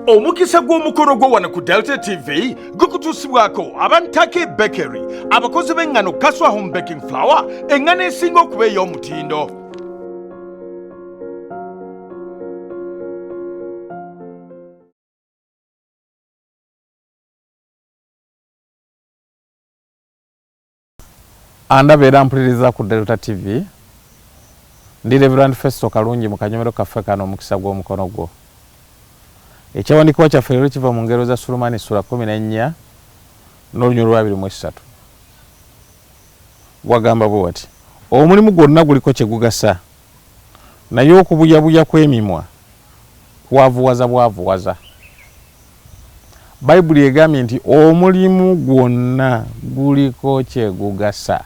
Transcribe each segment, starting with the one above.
omukisa gw'omukolo gwo wano ku delta tv gukutuusibwako abantake bakery abakozi b'eŋŋano kaswa home baking flower eŋŋano esinga okuba ey'omutindo Andaba era ampuliriza ku Delta TV. Ndi Reverend Festo Kalungi mu kanyomero kaffe kano Omukisa gw'Omukono Gwo. Ekyawandiikibwa kyaffe leero kiva mu ngero za Sulumani sula kumi n'ennya n'olunyolo lwabiri mu essatu. Wagamba bwe wati, Omulimu gwonna guliko kye gugasa. Naye okubuyabuya kw'emimwa kwavuwaza bwavuwaza. Bayibuli egambye nti, Omulimu gwonna guliko kye gugasa.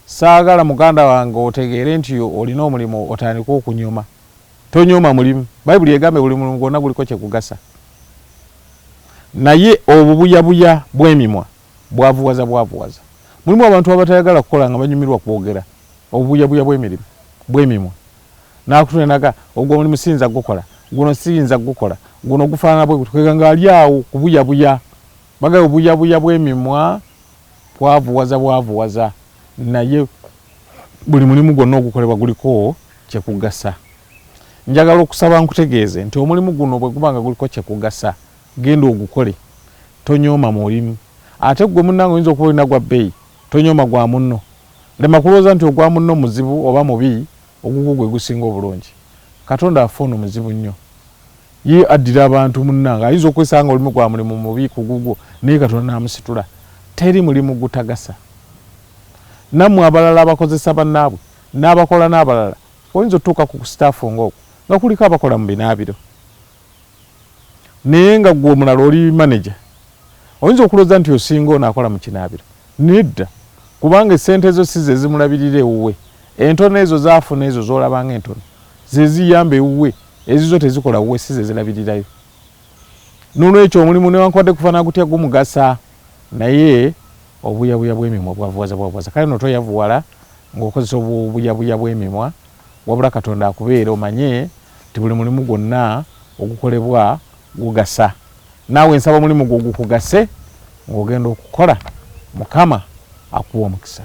Ssaagala muganda wange otegeere nti olina omulimu otandike okunyooma. Tonyooma mulimu. Bayibuli egambye buli mulimu gwonna guliko kye gugasa. Naye obubuyabuya bw'emimwa bwavuwaza bwavuwaza. Mulimu abantu abatayagala kukola nga banyumirwa kwogera, obubuyabuya bw'emirimu, bw'emimwa. N'akutunulira n'agamba, ogwo omulimu siyinza kugukola, guno siyinza kugukola, guno gufaanana bwe gutyo, kwegamba ng'ali awo kubuyabuya. Bagamba obubuyabuya bw'emimwa bwavuwaza bwavuwaza naye buli mulimu gwonna ogukolebwa guliko kye kugasa. Njagala okusaba nkutegeeze nti omulimu guno bwe guba nga guliko kye kugasa, Genda ogukole tonyooma mulimu ate ggwe munnange oyinza okuba olina gwa bbeeyi tonyooma gwa munno. Lema kulwooza nti ogwa munno muzibu oba mubi ogugwo gwe gusinga obulungi. Katonda waffe ono muzibu nnyo. Ye addira abantu munnange ayinza okwesanga nga olimu gwa mulimu mubi ku gugwo naye Katonda n'amusitula. Teri mulimu gutagasa. Nammwe abalala abakozesa bannaabwe n'abakola n'abalala oyinza otuuka ku ku sitaafu ng'okwo nga kuliko abakola mu binaabiro. naye nga gwe omulala oli manager oyinza okuloza nti osinga ono akola mukinabiro nedda kubanga esente zo si zezimulabirira ewuwe entono ezo zafuna ezo zolabanga entono zeziyamba ewuwe ezizo tezikola wuwe si zezilabirirayo nolwekyo omulimu newankubadde kufana gutya gumugasa naye obuyabuya bwemimwa bwavuwaza bwavuwaza kale notoyavuwala ngaokozesa obuyabuya bwemimwa Wabula Katonda akubeere omanye nti buli mulimu gwonna ogukolebwa gugasa. Naawe nsaba omulimu gwo gukugase ng'ogenda okukola. Mukama akuwe omukisa.